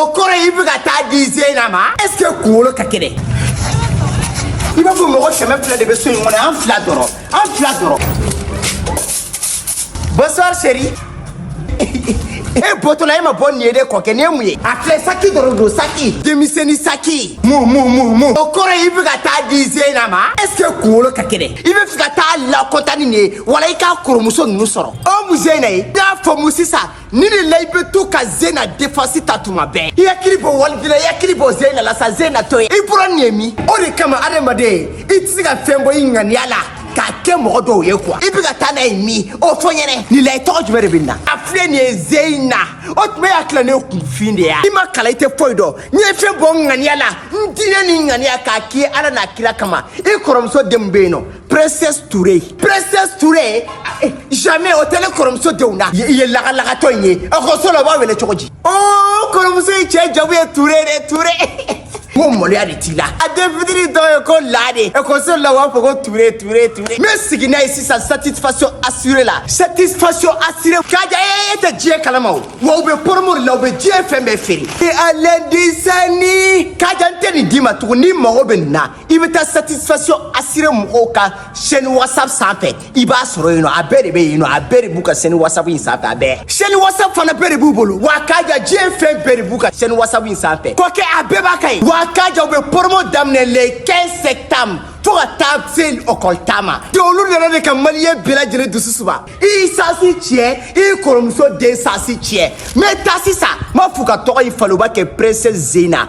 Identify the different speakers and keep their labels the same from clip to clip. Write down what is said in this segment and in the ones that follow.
Speaker 1: o kɔrɔ i bɛ ka taa di zeyina ma est ce que kunkolo ka kɛnɛ i b'a fɔ mɔgɔ kɛmɛ fila de bɛ so in kɔnɔ an fila dɔrɔn an fila dɔrɔn bonsoir chérie e bɔtɔla e ma bɔ nin ye de kɔkɛ nin ye mun ye a filɛ saki dɔrɔn don saki denmisɛnnin saki mu mu mu mu o kɔrɔ ye i bɛ ka taa di zeyina ma est ce que kunkolo ka kɛnɛ i b'a fɛ ka taa lakɔtani nin ye wala i ka kɔrɔmuso ninnu sɔrɔ o mu zeyina ye n y'a fɔ mun sisan nin de la i bɛ to ka zena défense ta tuma bɛɛ i hakili bɔ walidila i hakili bɔ zena la sa zena to yen i bɔra nin ye min o de kama adamaden i tɛ se ka fɛn bɔ i ŋaniya la k'a kɛ mɔgɔ dɔw ye quoi i bɛ ka taa n'a ye min o fɔ n ɲɛ na nin la i tɔgɔ jumɛn de bɛ nin na a filɛ nin ye zeyina o tuma i hakili la ne kunfin de ya i ma kalan i tɛ foyi dɔn n ye fɛn bɔ n ŋaniya la n diinɛ ni ŋaniya k'a k'i ye ala n'a kira kama i kɔrɔmuso denw bɛ yen nɔ Princesse Toure Princesse Toure eh, jamais o tɛ ne kɔrɔmuso denw na i ye lagalagatɔ in ye ekɔliso la u b'a wele cogo di o oh, kɔrɔmuso in cɛ jamu ye Toure de Toure ko maloya de t'i la a den fitini dɔ ye ko la de ekɔliso la u b'a fɔ ko Toure Toure Toure n bɛ segin n'a ye sisan satisfaction assurée la satisfaction assurée Kaja e tɛ diɲɛ kalama o wa u bɛ promo de la u bɛ diɲɛ fɛn bɛɛ feere e a lɛndisɛni Kaja n tɛ nin d'i ma tugun n'i mago bɛ nin na i bɛ taa satisfaction assurée mɔgɔw ka chaîne whatsapp sanfɛ i b'a sɔrɔ yen nɔ a bɛɛ de bɛ yen nɔ a bɛɛ de b'u ka chaîne whatsapp in sanfɛ a bɛɛ chaîne whatsapp fana bɛɛ de b'u bolo wa kaja diɲɛ fɛn bɛɛ de b'u ka chaîne whatsapp in sanfɛ kɔkɛ a bɛɛ b'a ka yen wa kaja u bɛ promo daminɛ le 15 septembre fo ka taa se ekɔli ta ma de olu nana de ka maliyɛn bɛɛ lajɛlen dusu suma i chance tiɲɛ i kɔrɔmuso den chance tiɲɛ mais taa sisan n b'a f'u ka tɔgɔ in falen u b'a kɛ princesse zena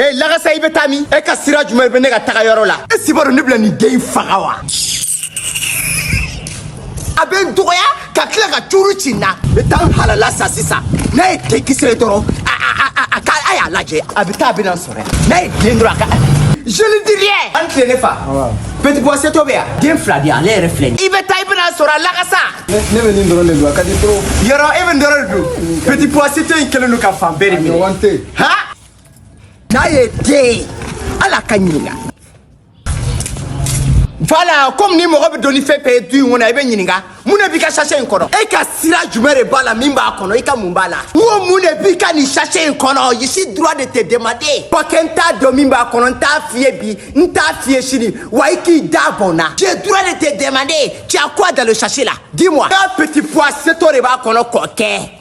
Speaker 1: ee lakasa i bɛ taa min e ka sira jumɛn bɛ ne ka taga yɔrɔ la e si b'a dɔn ne bɛna nin den in faga wa a bɛ n dɔgɔya ka tila ka cuuru ci n na n bɛ taa n halala san sisan n'a ye denkisɛ ye dɔrɔn a a a a a k'a a y'a lajɛ a bɛ taa a bɛ na so N'a ye den dɔrɔn a ka je ne dis rien an tile ne fa petit pois seto bɛ yan den fila di yan ale yɛrɛ filɛ nin ye. i bɛ taa i bɛna a sɔrɔ a lakasa ne bɛ nin dɔrɔn de
Speaker 2: dun a ka di trop yɔrɔ e bɛ nin dɔrɔn
Speaker 1: de dun petit pois seto in kɛlen don ka fan bɛɛ de minɛ ɲɔgɔn tɛ yen. ha n'a ye den ye ala ka ɲininka Voilà comme ni mɔgɔ bɛ don ni fɛn fɛn ye du in kɔnɔ i bɛ ɲininka mun de b'i ka sachet in kɔnɔ e ka sira jumɛn de b'a la min b'a kɔnɔ i ka mun b'a la n ko mun de b'i ka nin sachet in kɔnɔ je suis droit de te demander kɔkɛ n t'a dɔn min b'a kɔnɔ n t'a f'i ye bi n t'a f'i ye sini wa i k'i da bɔn na j'ai droit de te demander tu as quoi dans le sachet là dis-moi un petit pois seto de b'a kɔnɔ kɔkɛ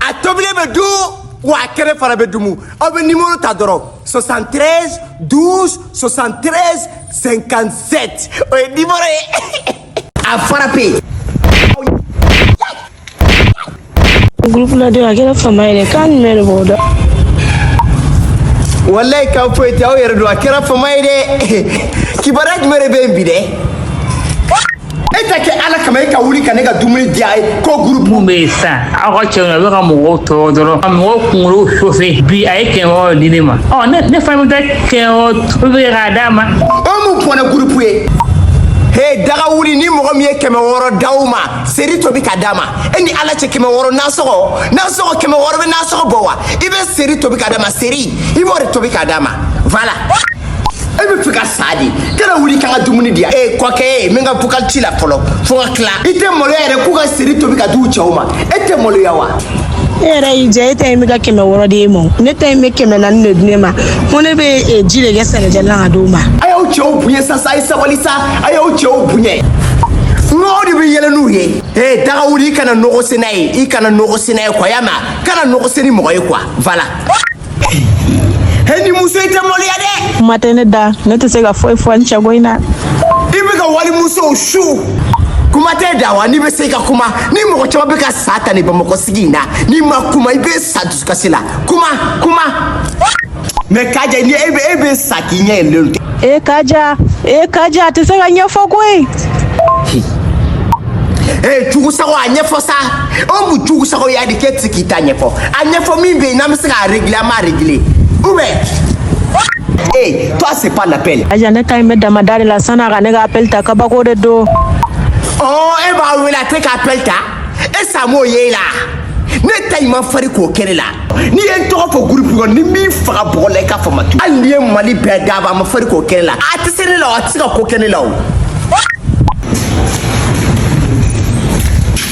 Speaker 1: a tobilen bɛ dun wa a kɛnɛ fana bɛ dumu aw bɛ nimoro ta dɔrɔn 73 12 73 57 o ye nimoro ye a frapper
Speaker 3: yen Groupe la de a kɛra fama yɛrɛ k'a numɛ de b'o
Speaker 1: da walayi kan foyi tɛ aw yɛrɛ don a kɛra fama ye dɛ kibaruya jumɛn de bɛ yen bi dɛ e ta kɛ ala kama e ka wuli ka ne ka dumuni di a ye ko gurupu mun bɛ yen sisan
Speaker 4: aw ka cɛw na u bɛ ka mɔgɔw tɔɔrɔ dɔrɔn ka mɔgɔw kunkolo chauffer bi a ye kɛmɛ wɔɔrɔ di ne ma ɔ ne ne fana bɛ taa kɛmɛ wɔɔrɔ tobi kɛ k'a d'a ma o mun bɔnɛ gurupu
Speaker 1: ye he daga wuli ni mɔgɔ min ye kɛmɛ wɔɔrɔ d'aw ma seri tobi ka d'a ma e ni ala cɛ kɛmɛ wɔɔrɔ nasɔgɔ nasɔgɔ kɛmɛ wɔɔrɔ bɛ nasɔgɔ bɔ wa i bɛ seri tobi ka d'a ma seri i b'o de tobi ka d'a ma voilà e bɛ fɛ ka sa de kana wuli k'an ka dumuni di yan ee kɔkɛ ye min ka vocal ci la fɔlɔ fo ka tila i tɛ maloya yɛrɛ k'u ka seri tobi ka d'u cɛw ma e tɛ maloya wa e yɛrɛ y'i
Speaker 3: jɛ e ta in bɛ ka kɛmɛ wɔɔrɔ di e ma o. ne ta in bɛ kɛmɛ naani de di ne ma ko ne bɛ eh, ji de kɛ sɛnɛjɛ la ka d'o ma a y'aw
Speaker 1: cɛw bonya sa sa a ye sabali sa a y'aw cɛw bonya nɔgɔ de bɛ yɛlɛ n'u ye ee daga wuli i kana nɔgɔ sen n'a ye i kana nɔgɔ sen n'a ye quoi y'a mɛn a kana nɔgɔ sen ni mɔgɔ ye quoi voilà Hɛ nin muso in tɛ maloya dɛ. Kuma tɛ ne
Speaker 3: da ne tɛ se ka foyi fɔ n cɛko in na. I
Speaker 1: bɛ ka wali muso su. kuma tɛ da wa n'i bɛ se ka kuma ni mɔgɔ caman bɛ ka sa ta nin bamakɔ sigi in na n'i ma kuma i bɛ sa dusukasi la kuma kuma. mais Kaja ni e bɛ e bɛ sa k'i ɲɛ yɛlɛlen tɛ. e kaja e
Speaker 3: kaja a tɛ se ka ɲɛfɔ koyi.
Speaker 1: ee jugusago a ɲɛfɔ sa. o mun jugu sago ya de k'e tɛ se k'i ta ɲɛfɔ a ɲɛfɔ min bɛ yen n'an bɛ se k'a régler an b'a régler ou bien ee toi c'est pas l'appel Kaja ne ta in bɛ damada
Speaker 3: de la san'a ka ne ka appel ta kabako de don
Speaker 1: ɔ e b'a wele a tɛ ka appel ta e sa m'o ye la ne ta in man fari k'o kɛ ne la n'i ye n tɔgɔ fɔ groupe kɔnɔ ni n m'i faga bugɔ la i k'a fɔ ma tu hali n'i ye mali bɛɛ d'a ma a man fari k'o kɛ ne la a tɛ se ne la o a tɛ se ka ko kɛ ne la o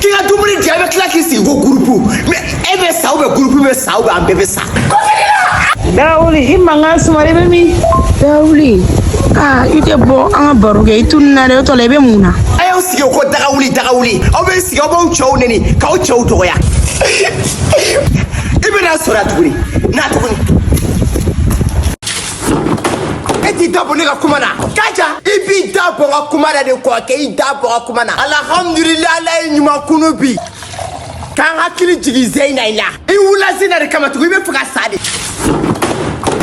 Speaker 1: k'i ka dumuni di a bɛ tila k'i sigi ko gurupu mais e bɛ sa ou bien gurupu bɛ sa ou bien an bɛɛ bɛ sa
Speaker 3: dawuli i mankan sumara i bɛ min dawuli aa i tɛ bɔ an ka baro kɛ i tununna dɛ o tɔ la i bɛ mun na a y'aw sigi o ko
Speaker 1: daga wuli daga wuli aw bɛ sigi aw b'aw cɛw neni k'aw cɛw dɔgɔya i bɛna sɔrɔ yan tuguni na tuguni e t'i da bɔ ne ka kuma na kaja i b'i da bɔ n ka kuma na de kɔkɛ i da bɔ n ka kuma na alihamudulila ala ye ɲuman kunun bi k'an hakili jigin zeyina in la i wula zeyina de kama tugun i bɛ fɛ ka sa de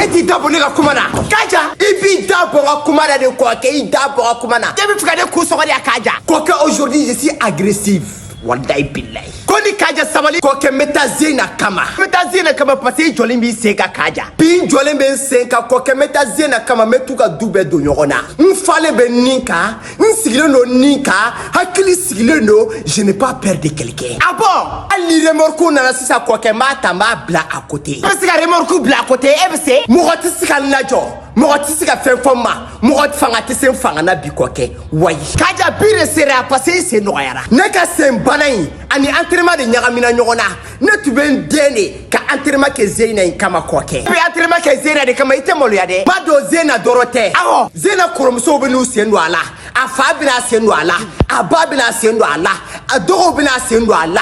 Speaker 1: e t'i da bɔ ne ka kuma na kaja i b'i da bɔ n ka kuma na de kɔkɛ i da bɔ n ka kuma na e bɛ fɛ ka ne kun sɔgɔ de ya kaja kɔkɛ aujourd'hui je suis agressive walayi bilayi ko ni kaja sabali kɔkɛ n bɛ taa zena kama n bɛ taa zena kama parce que i jɔlen b'i sen kan kaja bi n jɔlen bɛ n sen kan kɔkɛ n bɛ taa zena kama n bɛ t'u ka du bɛɛ don ɲɔgɔn na n falen bɛ nin kan n sigilen don nin kan hakili sigilen don je n'ai pas peur de quelqu'un ah bon hali ni remorque nana sisan kɔkɛ n b'a ta n b'a bila à côté e bɛ se ka remorque bila à côté e bɛ se mɔgɔ tɛ se ka n lajɔ mɔgɔ tɛ se ka fɛn fɔ n ma mɔgɔ fanga tɛ se n fanga na bi kɔkɛ wayi kaja bi de sera parce que i sen nɔgɔyara ne ka sen bana in ani entraînement de ɲagamina ɲɔgɔn na ne tun bɛ n dɛn de ka entraînement kɛ zeyina in kama kɔkɛ i bɛ entraînement kɛ zeyina de kama i tɛ maloya dɛ n b'a dɔn zeyina dɔrɔn tɛ awɔ zeyina kɔrɔmusow bɛn'u sen don a la a fa bɛna a sen don a la a ba bɛna a sen don a la a dɔgɔw bɛna a sen don a la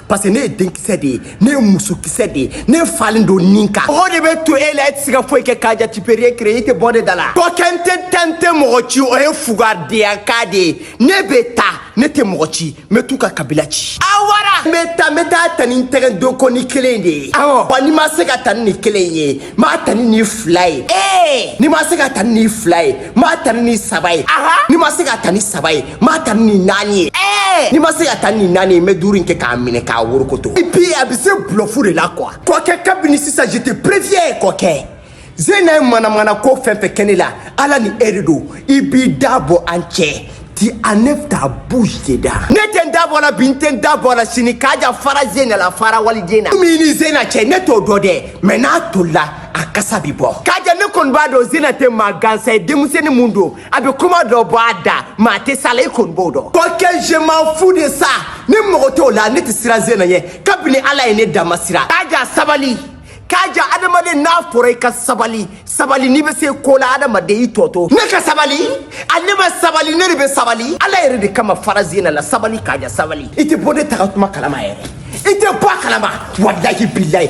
Speaker 1: parce que ne ye denkisɛ de ye ne ye musokisɛ de ye ne falen don nin kan mɔgɔ de bɛ to e la e tɛ se ka foyi kɛ kaja tu peux rien créer i tɛ bɔ ne da la kɔkɛ n tɛ taa n tɛ mɔgɔ ci o ye fugadenya kan de ye ne bɛ taa ne tɛ mɔgɔ ci n bɛ t'u ka kabila ci a wara n bɛ taa n bɛ taa a ta ni n tɛgɛdonkɔni kelen de ye awɔ wa n'i ma se k'a ta ni nin kelen ye n b'a ta ni nin fila ye ee n'i ma se k'a ta ni nin fila ye n b'a ta ni nin saba ye n'i ma se k'a ta ni saba ye n b'a ta ni nin naani ye ee n'i ma se k'a ta ni nin naani ye n bɛ duuru in kɛ k'a minɛ k'a worokoto et puis a bɛ se bluff de la quoi kɔkɛ kabini sisan je te préviens kɔkɛ zena ye manamana ko fɛn fɛn kɛ ne la ala ni e de don i b'i da bɔ an cɛ tu enlèves ta bouche dedans ne tɛ n da bɔ la bi n tɛ n da bɔ la sini kaja fara zena la fara waliden na min ni zena cɛ ne t'o dɔn dɛ mais n'a tolila a kasa bi bɔ kaja ne kɔni b'a dɔn zena tɛ maa gansan ye denmisɛnnin mun don a bɛ kuma dɔ bɔ a da mais a tɛ s'a la i kɔni b'o dɔn kɔkɛ je m'en fous de ça ne mago t'o la ne tɛ siran zena ɲɛ kabini ala ye ne da n ma siran kaja sabali kaja adamaden n'a fɔra i ka sabali sabali n'i bɛ se ko la adamaden i tɔ to ne ka sabali ale ma sabali ne de bɛ sabali ala yɛrɛ de kama fara zena la sabali kaja sabali i tɛ bɔ ne taga tuma kalama yɛrɛ i tɛ bɔ a kalama walahi bilayi